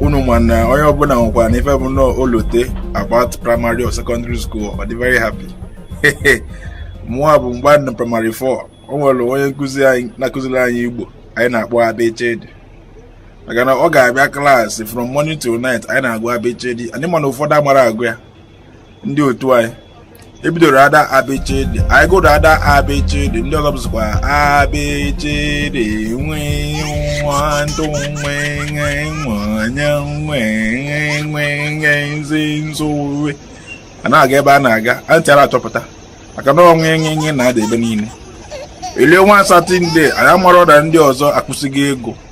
unu ma na onye ọbụla nwekwa na ife bụ na o lote about primary or secondary school ọ dị very happy mụnwa bụ mgbe na primary 4 o nwere onye nkụzi anyị na-akụziri anyị igbo anyị na-akpọ abechedi maka na ọ ga-abịa klaasị from morning till night anyị na-agụ abechedi anyị mana ụfọdụ amara agụ ya ndị otu anyị ebidoro ada abịchịdị anyị gụrụ ada abịchịdị ndị ọzọ bụzikwa abịchịdị nwe nwa ndụ nwe nwe nwanye nwe nwe nwe nwe nzi nzuwe a na-aga ebe a na-aga antị ara achọpụta maka na ọ nwe nwe nwe na-ada ebe niile elue one satọde anyị amarọ na ndị ọzọ akwụsịgo ịgụ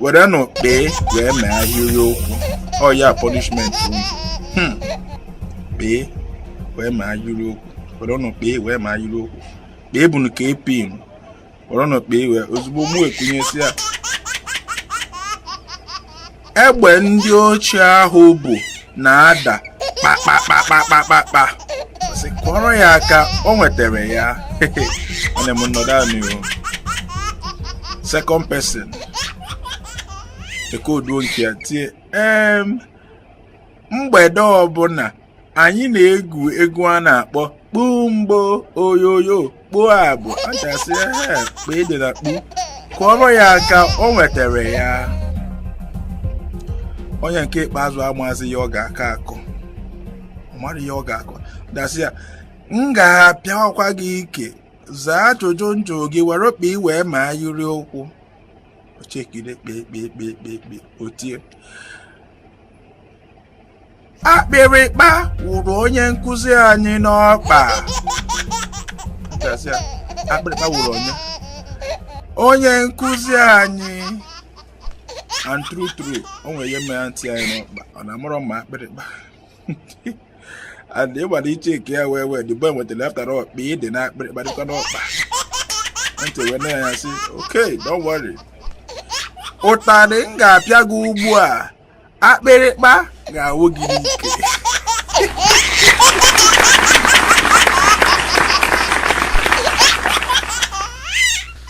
werenụ kpee wee mee ahịrị okwu ọ ya punishment unu hmm. kpee wee mee ahịrị okwu werenụ kpee wee mee ahịrị okwu kpee bụnụ kp werenụ kpee wee ozugbo mụ ekunie sị ya egbe ndị ochie ahụ bu na-ada kpakpakpakpakpakpa sị kụọrọ ya aka o nwetara ya nne m nọdụ ahụ n'ihu second person echeduo nke ya tie em mgbede ọbụla anyị na-egwu egwu a na-akpọ kpumgbo oyoyo kpumgbo antị asị ehe kpee dị na kpu kụọrọ ya aka o nwetara ya onye nke ikpeazụ amazi ihe ọ ga-akọ akọ ọ marọ ihe ọ ga-akọ antị asị ya m ga-apịawakwa gị ike zaa ajụjụ m jụ gị were kpee wee mee ahịrị okwu o chekide kpee kpee kpee kpee kpee o tie akpịrịkpa wụrụ onye nkụzi anyị n'ọkpa a sị ya akpịrịkpa wụrụ onye onye nkụzi anyị and true true o nwere ihe mere antị anyị n'ọkpa ọ na-amụrụ ma akpịrịkpa and ịgbara iche nke ya well well the boy nwetara after all kpee dị na akpịrịkpa dịkwa n'ọkpa antị wee nee ya sị okay don't worry ụtarị m ga-apịa gị ugbu a akpịrịkpa ga-awụ gị n'ike